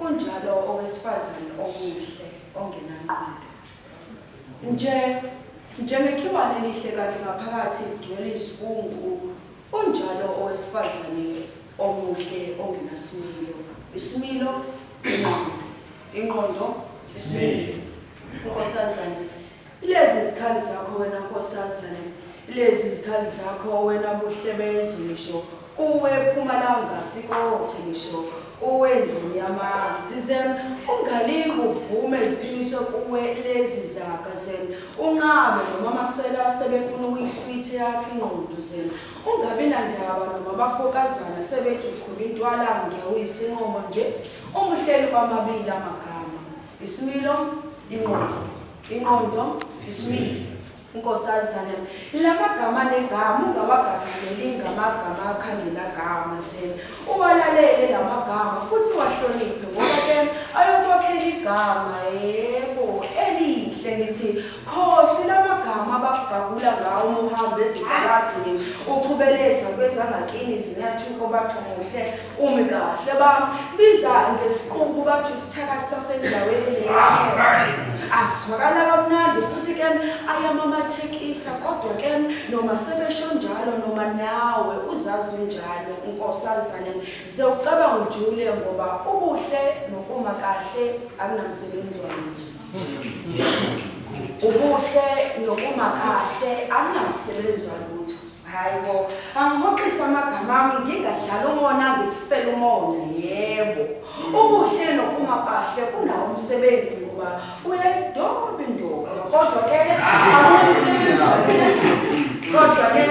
Unjalo owesifazane omuhle ongenanqondo. Nje njengekhiwane elihle kanti ngaphakathi ligcwele izibungu. Unjalo owesifazane omuhle ongenasimilo. Isimilo inqondo. Inqondo sisimilo. Nkosazane Ilezi izikhali zakho wena nkosazane, ilezi izikhali zakho wena buhle bezwe ngisho kuwe Mpumalanga sikothe ngisho kuwe ndlu yamanzi zem ungalingi uvume ziphiniswe kuwe lezi zaga zem unqabe nomama sela sebefuna ukuyihlwithe yakhe ingqondo zem ungabi nandaba noma bafokazana sebethi uqhuba intwala ngewisinqomo nje umuhleli kwamabili amagama isimilo ingqondo Inqondo isibili unkosazana lamagama negama ungawagagudeli ngamagama akhangelagama sena uwalalele lamagama futhi wahloniphe ngoba ke ayokwakhela igama yebo elihle ngithi khohle lamagama abakugagula ngawo uma uhamba ezitaladini uqhubeleza kwezangakini zinyathuko bathu muhle Umi kahle ba biza ngesiqubu bathi isithakathi sasendaweni leyo. Asizwakala kamnandi futhi ke ayamamathekisa kodwa ke noma sebesho njalo noma nawe uzazi njalo nkosazane ze ucabanga ujule ngoba ubuhle nokuma kahle akunamsebenzi wamuntu. Ubuhle nokuma kahle akunamsebenzi walutho. Hayi bo, angihoxisa amagama ami ngingadlala umona ngikufela umona yebo. Ubuhle nokuma kahle kunawo umsebenzi ngoba uyayidoba indoda kodwa ke awumsebenzi ukuthi kodwa ke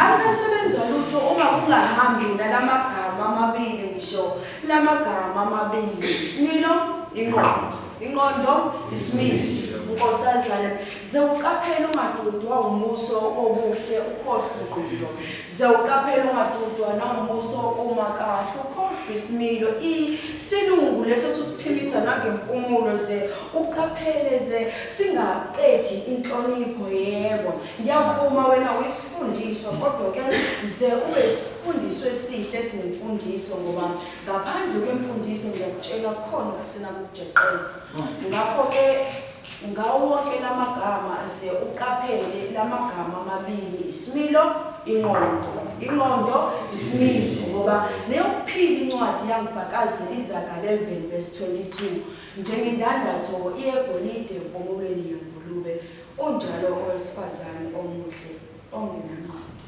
awumsebenzi walutho uma kungahambi nalamagama amabili ngisho lamagama amabili. Smilo inqondo. Inqondo ismile unkosazana ze uqaphele ungadudwa umuso obuhle ukhohlwe ingqondo ze uqaphele ungadudwa nawumuso uma kahle ukhohlwe isimilo isilungu leso susiphimisa nangempumulo ze uqaphele ze singaqedi inhlonipho yebo ngiyavuma wena uyisifundiswa kodwa ke ze ube isifundiswa esihle sinemfundiso ngoba Ngaphandle kwemfundiso ngiyakutshela kukhona ukusina kokujeqeza. Ngakho ke ngawo wonke lamagama ze uqaphele lamagama amabili isimilo inqondo. Inqondo isimilo ngoba neyokuphila incwadi yangifakazi izaga 11 verse 22 njengendandatho iyegolide empumulweni yengulube unjalo owesifazane omuhle ongenangqondo.